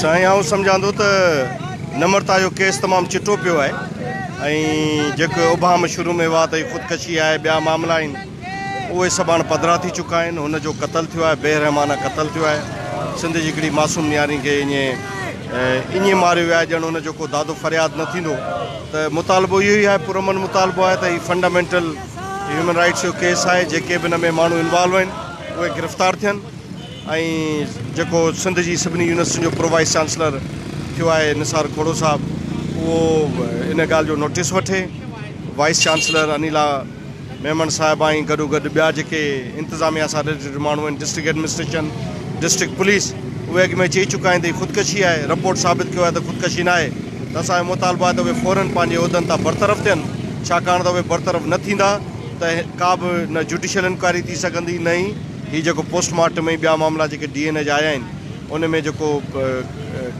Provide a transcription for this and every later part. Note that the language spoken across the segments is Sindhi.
سائين آئون سمجهان ٿو ته نمرتا جو ڪيس تمام چٽو پيو آهي ۽ جيڪي ابهام شروع ۾ هئا ته خودڪشي آهي ٻيا معاملا آهن اهي سڀ هاڻ پڌرا ٿي چڪا آهن هن جو قتل ٿيو آهي بي رحمانه قتل ٿيو آهي سنڌ جي هڪڙي معصوم نياري کي ائين ائين ماريو ويو آهي ڄڻ هن جو ڪو دادو فرياد نه ٿيندو ته مطالبو اهو ئي آهي پرامن مطالبو آهي ته هي فنڊامينٽل هيومن رائٽس جو ڪيس آهي جيڪي به ان ۾ ماڻهو انوالو آهن اهي گرفتار ٿين ۽ جيڪو سنڌ جي سڀني يونيورسٽين جو پرو وائيس چانسلر ٿيو آهي نثار کوڙو صاحب اهو ان ڳالهه جو نوٽيس وٺي وائيس چانسلر انيلا ميمڻ صاحب آئين گڏو گڏ ٻيا جيڪي انتظاميا سان ريليٽيڊ ماڻهو آهن ڊسٽرڪٽ ايڊمنسٽريشن ڊسٽرڪٽ پوليس اهي اڳ ۾ چئي چڪا آهن ته خودڪشي آهي رپورٽ ثابت ڪيو آهي ته خودڪشي ناهي ته اسانجو مطالبو آهي ته اهي فورن پنهنجي عهدن تان برطرف ٿين ڇاڪاڻ ته اهي برطرف نه ٿيندا ته ڪا به نه جوڊيشل انڪوائري ٿي سگهندي نه ئي هي جيڪو پوسٽ مارٽم ۽ ٻيا معاملا جيڪي ڊي اين اي جا آيا آهن ان ۾ جيڪو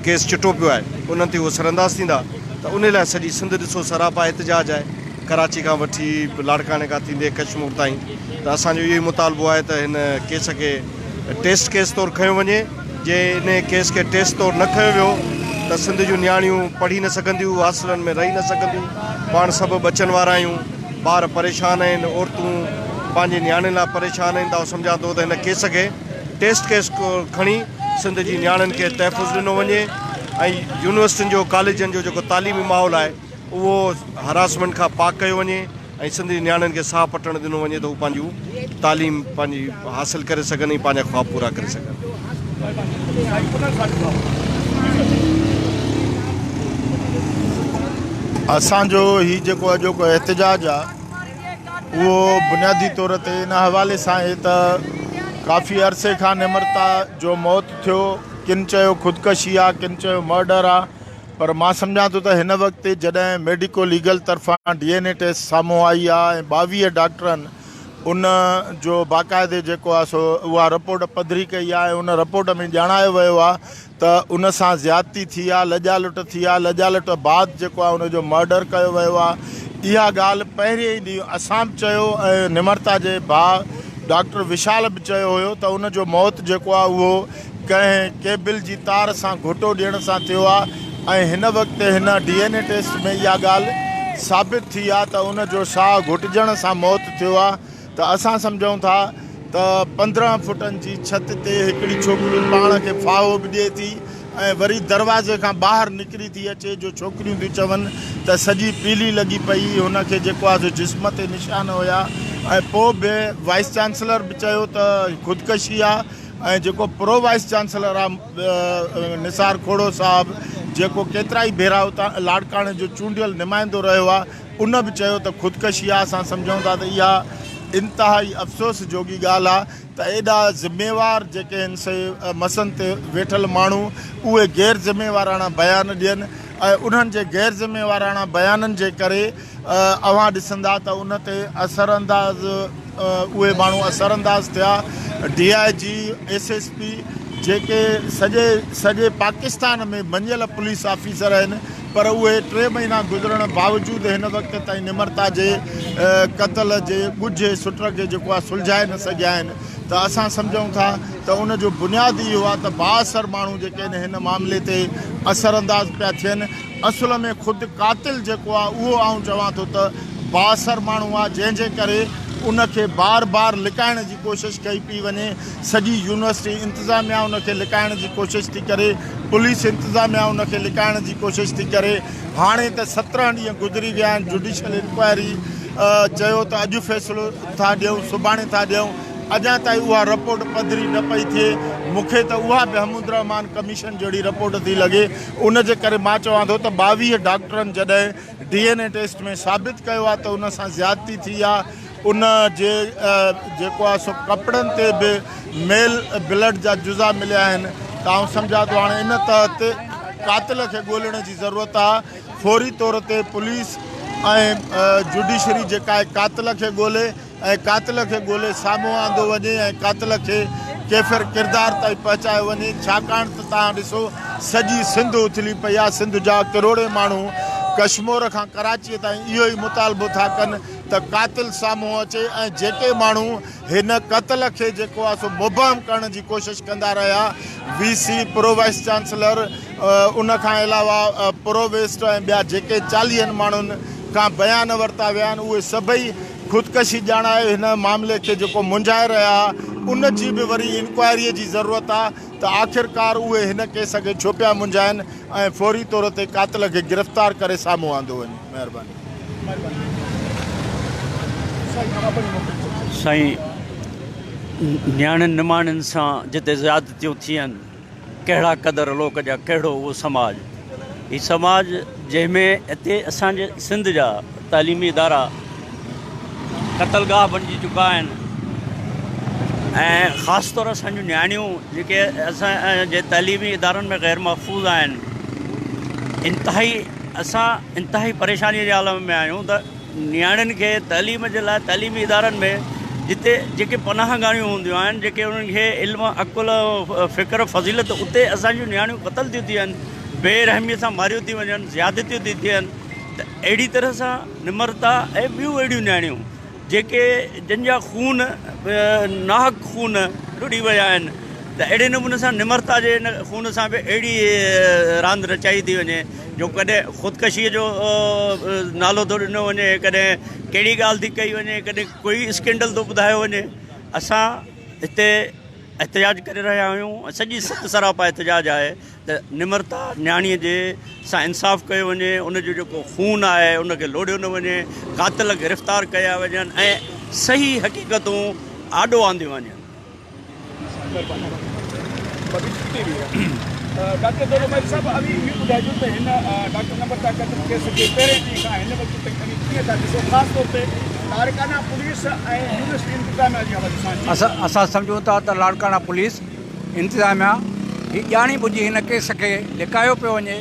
ڪيس چٽو پيو آهي انهن تي اهي سرانداز ٿيندا ته ان لاء سڄي سنڌ ڏسو سراپا احتجاج آهي ڪراچي کان وٺي لاڙڪاڻي کان ٿيندي ڪشمور تائين ته اسان جو اهو ئي مطالبو آهي ته هن ڪيس کي ٽيسٽ ڪيس طور کنيو وڃي. جي انهيء ڪيس کي ٽيسٽ طور نه کنيو ويو ته سنڌ جون نياڻيون پڙهي نه سگهنديون، هاسٽلن ۾ رهي نه سگهنديون، پاڻ سڀ ٻچن وارا آهيون، ٻار پريشان آهن، عورتون پنهنجي نياڻين لاء پريشان آهن ته آئون سمجهان ٿو ته هن ڪيس کي ٽيسٽ ڪيس طور کڻي سنڌ جي نياڻين کي تحفظ ڏنو وڃي ۽ يونيورسٽين جو ڪاليجن جو جيڪو تعليمي ماحول آهي اهو هراسمينٽ کان پاڪ ڪيو وڃي. ۽ سنڌ جي نياڻين کي ساهه پٽڻ ڏنو وڃي ته هو پنهنجون تعليم پنهنجي حاصل ڪري سگهن ۽ پنهنجا خواب پورا ڪري سگهن. اسان جو هي جيڪو اڄوڪو احتجاج آ اهو بنيادي طور تي ان حوالي سان آهي ته ڪافي عرصي کان نمرتا جو موت ٿيو ڪن چيو خودڪشي آ ڪن چيو مرڊر آ پر مان سمجهان ٿو ته هن وقت جڏهن ميڊيڪو ليگل طرفان ڊي اين اي ٽيسٽ سامهون آئي آ ۽ ٻاويهه ڊاڪٽرن ان جو باقاعدي جيڪو آ سو اها رپورٽ پڌري ڪئي آ ۽ ان رپورٽ ۾ ڄاڻايو ويو آ ته ان سان زيادتي ٿي آ لڄا لٽ ٿي آ لڄا لٽ بعد جيڪو آ ان جو مرڊر ڪيو ويو آ اها ڳالهه پهرين ئي ڏينهن اسان به چيو ۽ نمرتا جي ڀاء ڊاڪٽر وشال به چيو هيو ته ان جو موت جيڪو آ اهو ڪنهن ڪيبل جي تار سان گهوٽو ڏيڻ سان ٿيو آهي ۽ هن وقت هن ڊي اين اي ٽيسٽ ۾ اها ڳالهه ثابت ٿي آهي ته ان جو ساهه گهٽجڻ سان موت ٿيو آهي ته اسان سمجهون ٿا ته پندرهن فٽن جي ڇت تي هڪڙي ڇوڪري پاڻ کي ڦاهو به ڏئي ٿي ۽ وري دروازي کان ٻاهر نڪري ٿي اچي جو ڇوڪريون ٿيون چون ته سڄي پيلي لڳي پئي هن کي جيڪو آهي سو جسم تي نشان هيا ۽ پوء به وائيس چانسلر به چيو ته خودڪشي آهي ۽ جيڪو پرو وائيس چانسلر آ نثار کوڙو صاحب جيڪو ڪيترائي ڀيرا اتان لاڙڪاڻي جو چونڊيل نمائندو رهيو آ ان به چيو ته خودڪشي آ اسان سمجهون ٿا ته اها انتهائي افسوس جوڳي ڳالهه آ ته ايڏا ذميوار جيڪي هن سي مسن تي ويٺل ماڻهو اهي غير ذميواراڻا بيان ڏين ۽ انهن جي غير ذميواراڻا بيانن جي ڪري اوهان ڏسندا ته ان تي اثرانداز اهي ماڻهو اثرانداز ٿيا D I G, S S P جيڪي سڄي سڄي پاڪستان ۾ مڃيل پوليس آفيسر آهن پر اهي ٽي مهينا گذرڻ باوجود هن وقت تائين نمرتا جي قتل جي ڳجهي سٽ کي جيڪو آهي سلجهائي نه سگهيا آهن ته اسان سمجهون ٿا ته ان جو بنياد اهو آهي ته بااثر ماڻهو جيڪي آهن هن معاملي تي اثرانداز پيا ٿين. اصل ۾ خود قاتل جيڪو آ اهو آئون چوان ٿو ته بااثر ماڻهو آ جنهن جي ڪري ان کي بار بار لڪائڻ جي ڪوشش ڪئي پي وڃي سڄي يونيورسٽي انتظاميا ان کي لڪائڻ جي ڪوشش ٿي ڪري پوليس انتظاميا ان کي لڪائڻ جي ڪوشش ٿي ڪري هاڻي ته سترهن ڏينهن گذري ويا آهن جوڊيشل انڪوائري چيو ته اڄ فيصلو ٿا ڏيون سڀاڻي ٿا ڏيون اڄان تائين اها رپورٽ پڌري نه پئي ٿئي مونکي ته اها به حمودالرحمان ڪميشن جهڙي رپورٽ ٿي لڳي ان جي ڪري مان چوان ٿو ته ٻاويهه ڊاڪٽرن جڏهن ڊي اين اي ٽيسٽ ۾ ثابت ڪيو آهي ته ان سان زيادتي ٿي آهي ان جي جيڪو آهي سو ڪپڙن تي به ميل بلڊ جا جزا مليا آهن ته آئون سمجهان ٿو هاڻي ان تحت قاتل کي ڳولڻ جي ضرورت آهي فوري طور تي پوليس ۽ جوڊيشري جيڪا آهي قاتل کي ڳولي ۽ قاتل کي ڳولي سامهون آندو وڃي ۽ قاتل کي ڪيفر ڪردار تائين پهچايو وڃي ڇاڪاڻ ته تهان ڏسو سڄي سنڌ اٿلي پئي آهي سنڌ جا ڪروڙين ماڻهو ڪشمور کان ڪراچيء تائين اهو ئي مطالبو ٿا ڪن ته قاتل سامهون اچي ۽ جيڪي ماڻهو هن قتل کي جيڪو آهي سو مبهم ڪرڻ جي ڪوشش ڪندا رهيا V C pro vice chancellor ان کان علاوه پرو ويسٽ ۽ ٻيا جيڪي چاليهن ماڻهن کان بيان ورتا ويا آهن اهي سڀئي خودڪشي ڄاڻائي هن معاملي کي جيڪو منجهائي رهيا ان جي به وري انڪوائريء جي ضرورت آ ته آخرڪار اهي هن ڪيس کي ڇو پيا منجهائن ۽ فوري طور تي قاتل کي گرفتار ڪري سامهون آندو وڃي. مهرباني. سائين نياڻين نماڻين سان جتي زيادتيون ٿين. ڪهڙا قدر لوڪ جا ڪهڙو اهو سماج هي سماج جنهن ۾ هتي اسان جي سنڌ جا تعليمي ادارا قتل گاهه بنجي چڪا آهن ۽ خاص طور اسان جون نياڻيون جيڪي اسان جي تعليمي ادارن ۾ غير محفوظ آهن انتهائي اسان انتهائي پريشاني جي عالم ۾ آهيون ته نياڻين کي تعليم جي لاء تعليمي ادارن ۾ جتي جيڪي پناهه گاهيون هونديون آهن جيڪي انهن کي علم عقل فڪر فضيلت اتي اسان جون نياڻيون قتل ٿيون ٿين بي رحمي سان ماريون ٿيون وڃن زيادتيون ٿيون ٿين ته اهڙي طرح سان نمرتا ۽ ٻيون اهڙيون نياڻيون جيڪي جن جا خون ناحق خون ڏڙي ويا آهن ته اهڙي نموني سان نمرتا جي ان خون سان به اهڙي راند رچائي ٿي وڃي جو ڪڏهن خودڪشيء جو نالو ٿو ڏنو وڃي، ڪڏهن ڪهڙي ڳالهه ٿي ڪئي وڃي، ڪڏهن ڪوئي اسڪينڊل ٿو ٻڌايو وڃي. اسان هتي احتجاج ڪري رهيا آهيون، سڄي ست سراپا احتجاج آهي ته نمرتا نياڻيء جي سان انصاف ڪيو وڃي، ان جو جيڪو خون آهي ان کي لوڙهيو نه وڃي، قاتل گرفتار ڪيا وڃن ۽ صحيح حقيقتون آڏو آنديون وڃن. اسان سمجهون ٿا ته لاڙڪاڻا پوليس انتظاميا هي ڄاڻي ٻجهي هن ڪيس کي لڪايو پيو وڃي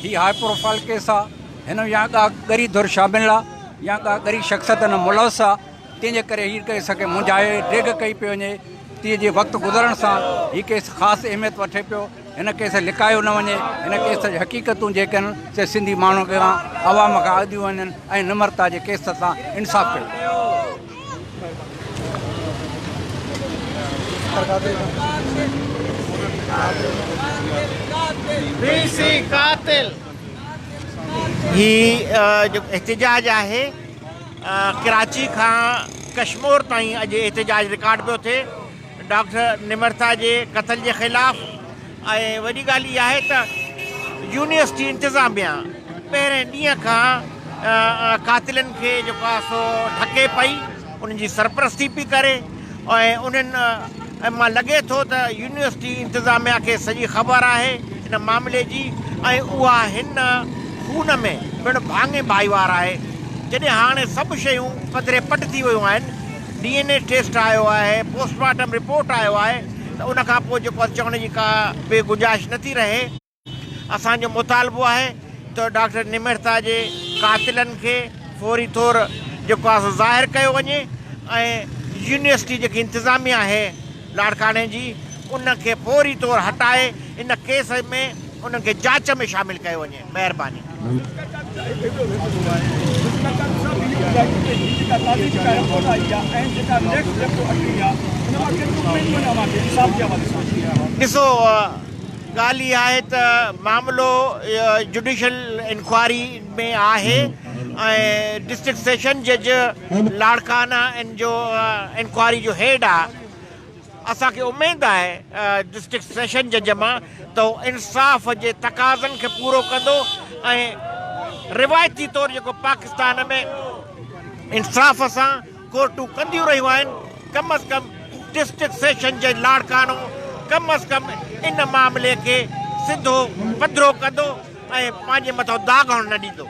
هي هاء پروفائل ڪيس آهي هن ۾ يا ڪا ڳري ڌر شامل آهي يا ڪا ڳري شخصيت هن ۾ ملوث آهي تنهن جي ڪري هيء ڪيس کي منجهائي ڊيگهه ڪئي پئي وڃي تي جي وقت گذرڻ سان هيء ڪيس خاص اهميت وٺي پيو هن ڪيس لڪايو نه وڃي هن ڪيس جون حقيقتون جيڪي آهن سي سنڌي ماڻهن اڳيان عوام کان اڌيون وڃن ۽ نمرتا جي ڪيس سان انصاف ڪيو ويو هي جيڪو احتجاج آهي ڪراچي کان ڪشمور تائين اڄ احتجاج رڪارڊ پيو ٿئي ڊاڪٽر نمرتا جي قتل جي خلاف ۽ وڏي ڳالهه اها آهي ته يونيورسٽي انتظاميا پهرين ڏينهن کان قاتلن کي جيڪو آهي سو ڍڪي پئي انهن جي سرپرستي پئي ڪري ۽ انهن مان لڳي ٿو ته يونيورسٽي انتظاميا کي سڄي خبر آهي ان معاملي جي ۽ اها هن خون ۾ پڻ ڀاڱي ڀائيوار آهي. جڏهن هاڻي سڀ شيون پڌري پٽ ٿي ويون آهن، ڊي اين اي ٽيسٽ آيو آهي، پوسٽ مارٽم رپورٽ آيو آهي ته ان کان پوء جيڪو چوڻ جي ڪا به گنجائش نٿي رهي. اسان جو مطالبو آهي ته ڊاڪٽر نمرتا جي قاتلن کي فوري طور جيڪو آهي سو ظاهر ڪيو وڃي ۽ يونيورسٽي جيڪي انتظاميه آهي لاڙڪاڻي جي ان کي فوري طور هٽائي ان ڪيس ۾ انهن کي جاچ ۾ شامل ڪيو وڃي مهرباني. ڳالهه اها آهي ته معاملو جڊيشل انڪوائري ۾ آهي ۽ ڊسٽرڪٽ سيشن جج لاڙڪانا ان جو انڪوائري جو هيڊ آهي اسان کي اميد آهي ڊسٽرڪٽ سيشن جج مان ته هو انصاف جي تقاضن کي پورو ڪندو ۽ روايتي طور جيڪو پاڪستان ۾ انصاف سان ڪورٽون ڪنديون رهيون آهن، ڪم از ڪم ڊسٽرڪٽ سيشن جي لاڙڪاڻو ڪم از ڪم ان معاملي کي سڌو پڌرو ڪندو ۽ پنهنجي مٿان داغ هئڻ نه ڏيندو.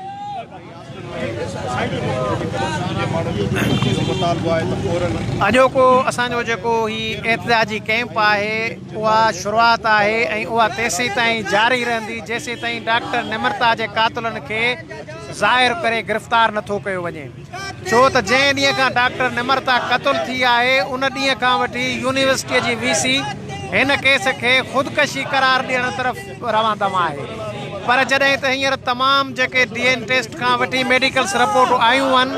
اڄوڪو اسان جو جيڪو هي احتجاجي ڪئمپ آهي اها شروعات آهي ۽ اها تيسيتائين جاري رهندي جيسيتائين ڊاڪٽر نمرتا جي قاتلن کي ظاهر ڪري گرفتار نٿو ڪيو وڃي. ڇو ته جنهن ڏينهن کان ڊاڪٽر نمرتا قتل ٿي آهي ان ڏينهن کان وٺي يونيورسٽيء جي وي سي هن ڪيس کي خودڪشي قرار ڏيڻ طرف روان دوان آهي پر جڏهن ته هينئر تمام جيڪي ڊي اين ٽيسٽ کان وٺي ميڊيڪلس رپورٽون آيون هن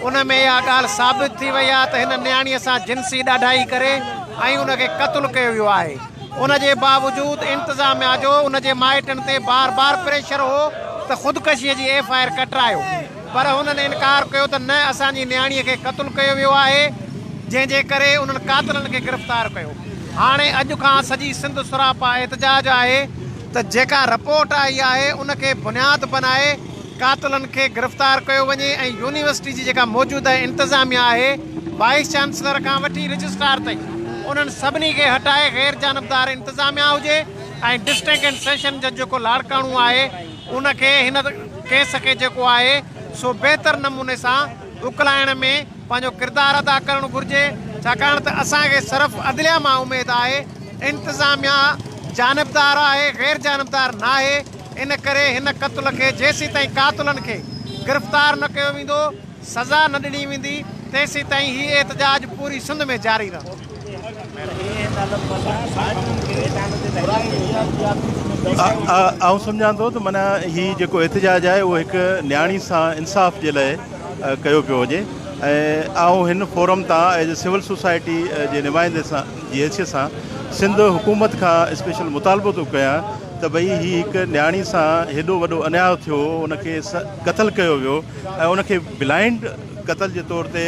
ان ۾ اها ڳالهه ثابت ٿي وئي آهي ته هن نياڻيء سان جنسي ڏاڍائي ڪري ۽ ان کي قتل ڪيو ويو آهي ان جي باوجود انتظاميا جو ان جي مائٽن تي بار بار پريشر هو ته خودڪشيء جي ايف آء آر ڪٽرايو پر هنن انڪار ڪيو ته نه اسان جي نياڻي کي قتل ڪيو ويو آهي جنهن جي ڪري انهن قاتلن کي گرفتار ڪيو هاڻي اڄ کان سڄي سنڌ سراپا احتجاج آهي ته جيڪا رپورٽ آئي آهي ان کي بنياد بنائي قاتلن کي گرفتار ڪيو وڃي ۽ يونيورسٽي جي جيڪا موجوده انتظاميا آهي وائيس چانسلر کان وٺي رجسٽرار تائين انهن سڀني کي هٽائي غير جانبدار انتظاميا هجي ۽ ڊسٽرڪٽ اينڊ سيشن جج جيڪو لاڙڪاڻو آهي ان کي هن ڪيس کي جيڪو آهي سو بهتر نموني سان اڪلائڻ ۾ پنهنجو ڪردار ادا ڪرڻ گهرجي ڇاڪاڻ ته اسان کي صرف عدليه مان اميد آهي انتظاميا جانبدار آهي غير جانبدار ناهي ان ڪري هن قتل کي جيسيتائين قاتلن کي گرفتار نه ڪيو ويندو سزا نه ڏني ويندي تيسيتائين هي احتجاج پوري سنڌ ۾ جاري رهندو. آئون سمجهان ٿو ته معنيٰ هي جيڪو احتجاج آهي اهو هڪ نياڻي سان انصاف جي لاء ڪيو پيو وڃي ۽ آئون هن فورم تان ايز اي سول سوسائٽي جي نمائندي سان جي حيثيت سان سنڌ حڪومت کان اسپيشل مطالبو ٿو ڪيان ته ڀئي هي هڪ نياڻي سان هيڏو وڏو انياء ٿيو ان کي قتل ڪيو ويو ۽ ان کي بلائنڊ قتل جي طور تي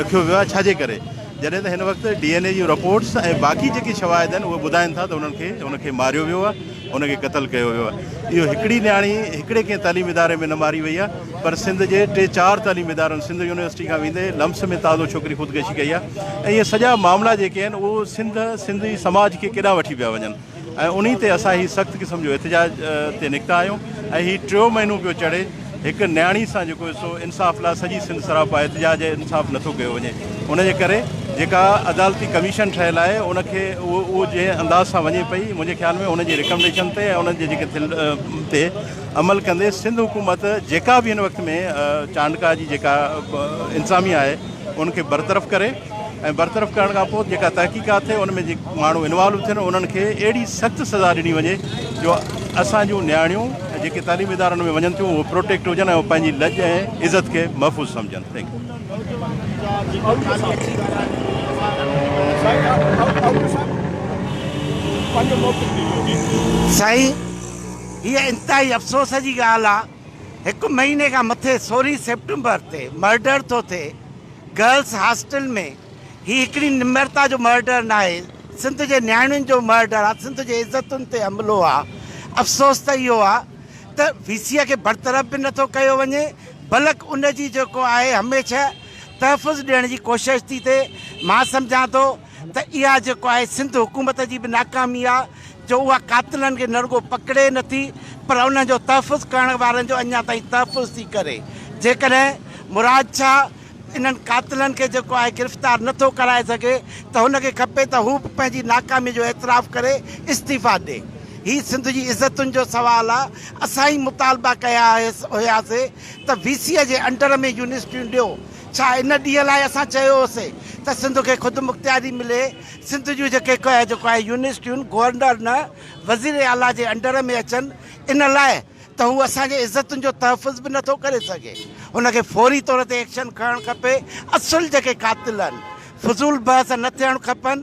رکيو ويو آهي ڇا جي ڪري جڏهن ته هن وقت ڊي اين اي جون رپورٽس ۽ باقي جيڪي شواهد آهن اهي ٻڌائن ٿا ته انهن کي ان کي ماريو ويو آهي ان کي قتل ڪيو ويو آهي اهو هڪڙي نياڻي هڪڙي ڪنهن تعليمي اداري ۾ نه ماري وئي آهي پر سنڌ جي ٽي چار تعليمي ادارن سنڌ يونيورسٽي کان ويندي لمس ۾ تازو ڇوڪري خودڪشي ڪئي آهي ۽ اهي سڄا معاملا جيڪي آهن اهو سنڌ سنڌ جي سماج کي ڪيڏانهن وٺي پيا وڃن ۽ انهي تي اسان هي سخت قسم جو احتجاج تي نڪتا آهيون ۽ هي ٽيون مهينو پيو چڙهي هڪ نياڻي سان جيڪو سو انصاف لاء سڄي سنڌ سراپا احتجاج ۽ انصاف نه ٿو ڪيو وڃي ان جي ڪري جيڪا عدالتي ڪميشن ٺهيل آهي ان کي اهو جنهن انداز سان وڃي پئي منهنجي خيال ۾ انهن جي رڪمنڊيشن تي ۽ انهن جي جيڪي ٿيل تي عمل ڪندي سنڌ حڪومت جيڪا به هن وقت ۾ چانڊڪا جي جيڪا انتظاميا آهي ان کي برطرف ڪري. ۽ برطرف ڪرڻ کان پوء جيڪا تحقيقات ٿئي ان ۾ جي ماڻهو انوالو ٿين انهن کي اهڙي سخت سزا ڏني وڃي جو اسان جون نياڻيون جيڪي تعليمي ادارن ۾ وڃن ٿيون اهي پروٽيڪٽ هجن ۽ پنهنجي لڄ ۽ عزت کي محفوظ سمجهن ٿينڪ يو سائين هيء انتهائي افسوس جي ڳالهه آهي هڪ مهيني کان مٿي سورهين سيپٽمبر تي مرڊر ٿو ٿئي گرلس هاسٽل ۾ هي هڪڙي نمرتا جو مرڊر ناهي سنڌ جي نياڻين جو مرڊر آ سنڌ جي عزتن تي حملو آ افسوس ته اهو آ ته وي سي کي برطرف به نٿو ڪيو وڃي بلڪ ان جي جيڪو آهي هميشه تحفظ ڏيڻ جي ڪوشش ٿي ٿئي مان سمجهان ٿو ته اها جيڪو آهي سنڌ حڪومت جي به ناڪامي آهي جو اها قاتلن کي نه رڳو پڪڙي نه ٿي پر انهن جو تحفظ ڪرڻ وارن جو اڃا تائين تحفظ ٿي ڪري جيڪڏهن مراد شاهه انهن قاتلن کي جيڪو آهي گرفتار نه ٿو ڪرائي سگهي ته هن کي کپي ته هو به پنهنجي ناڪامي جو اعتراف ڪري استعيفا ڏي هي سنڌ جي عزتن جو سوال آهي اسان ئي مطالبا ڪيا هيس هياسي ته وي سيء جي انڊر ۾ يونيورسٽيون ڏيو، ڇا ان ڏينهن لاء اسان چيو هو سي ته سنڌ کي خودمختياري ملي، سنڌ جون جيڪي ڪهه جو ڪهه يونيورسٽيون گورنر نه وزير اعليٰ جي انڊر ۾ اچن ان لاء ته هو اسان جي عزتن جو تحفظ به نٿو ڪري سگهي هن کي فوري طور تي ايڪشن کڻڻ کپي اصل جيڪي قاتل آهن فضول بحث نه ٿيڻ کپن.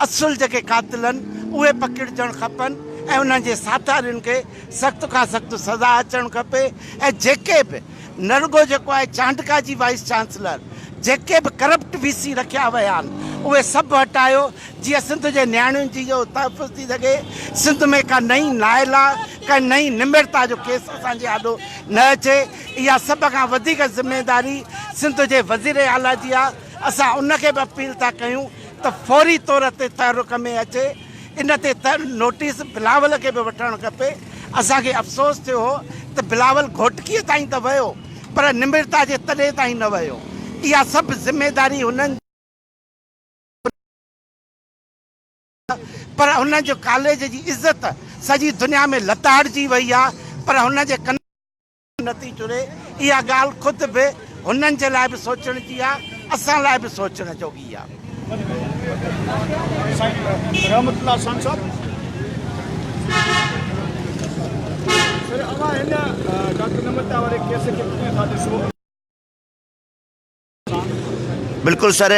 اصل جيڪي قاتل آهن اهي پڪڙجڻ کپن ۽ انهن جي ساٿارين کي سخت کان سخت سزا اچڻ کپي ۽ جيڪي به نه رڳو جيڪو آهي چانڊڪا جي وائيس چانسلر جيڪي به ڪرپٽ وي سي رکيا ويا آهن اهي سڀ هٽايو جيئن سنڌ جي نياڻين جي جو تحفظ ٿي سگهي سنڌ ۾ ڪا نئين نائلا ڪا نئين نمرتا جو ڪيس اسان جي آڏو نه اچي اها سڀ کان وڌيڪ ذميداري سنڌ جي وزير اعليٰ جي آهي اسان ان کي به اپيل ٿا ڪيون ته فوري طور تي تحرڪ ۾ اچي ان تي نوٽيس بلاول کي به وٺڻ کپي اسان کي افسوس ٿيو هو ته بلاول گهوٽڪيء تائين ته ويو پر نمرتا جي تڏي تائين نه ويو اها سڀ ذميداري هنن پر هن جو ڪاليج جي عزت سڄي دنيا ۾ لتاڙجي وئي آهي پر هن جي ڪن نٿي چري، اها ڳالهه خود به هنن جي لاء به سوچڻ جي آ، اسان لاء به سوچڻ جوڳي آ. سائين رحمت الله شان صاحب سر اوهان هن ڊاڪٽر نمرتا واري ڪيس کي ڪيئن ٿا ڏسو؟ بلڪل سر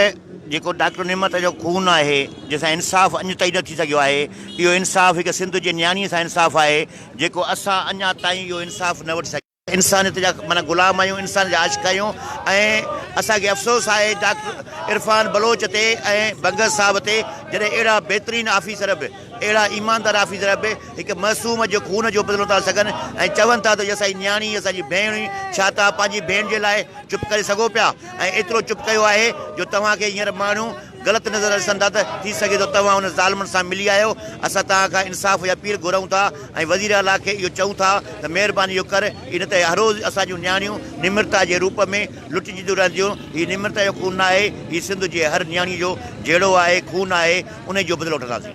جيڪو ڊاڪٽر نعمت جو خون آهي جنهن سان انصاف اڃ تائين نه ٿي سگهيو آهي اهو انصاف هڪ سنڌ جي نياڻي سان انصاف آهي جيڪو اسان اڃا تائين اهو انصاف نه وٺي سگهيا انسانيت جا معنيٰ غلام آهيون انسانيت جا عاشق آهيون ۽ اسان کي افسوس آهي ڊاڪٽر عرفان بلوچ تي ۽ بنگس صاحب تي جڏهن اهڙا بهترين آفيسر به اهڙا ايماندار آفيسر اڀ هڪ معصوم جي خون جو بدلو ٿا سگهن ۽ چون ٿا ته هي اسان جي نياڻي هي اسان جي ڀيڻ هئي ڇا توهان پنهنجي ڀيڻ جي لاء چپ ڪري سگهو پيا ۽ ايترو چپ ڪيو آهي جو توهان کي هينئر ماڻهو غلط نظر ڏسن ٿا ته ٿي سگهي ٿو توهان انهن ظالمن سان ملي آهيو اسان توهان کان انصاف جي اپيل گهرون ٿا ۽ وزير اعليٰ کي اهو چئون ٿا ته مهرباني اهو ڪر اي نه ته هروز اسان جون نياڻيون نمرتا جي روپ ۾ لٽجنديون رهنديون هي نمرتا جو خون نه آهي هي سنڌ جي هر نياڻي جو جهيڙو آهي خون آهي انهيء جو بدلو وٺنداسين.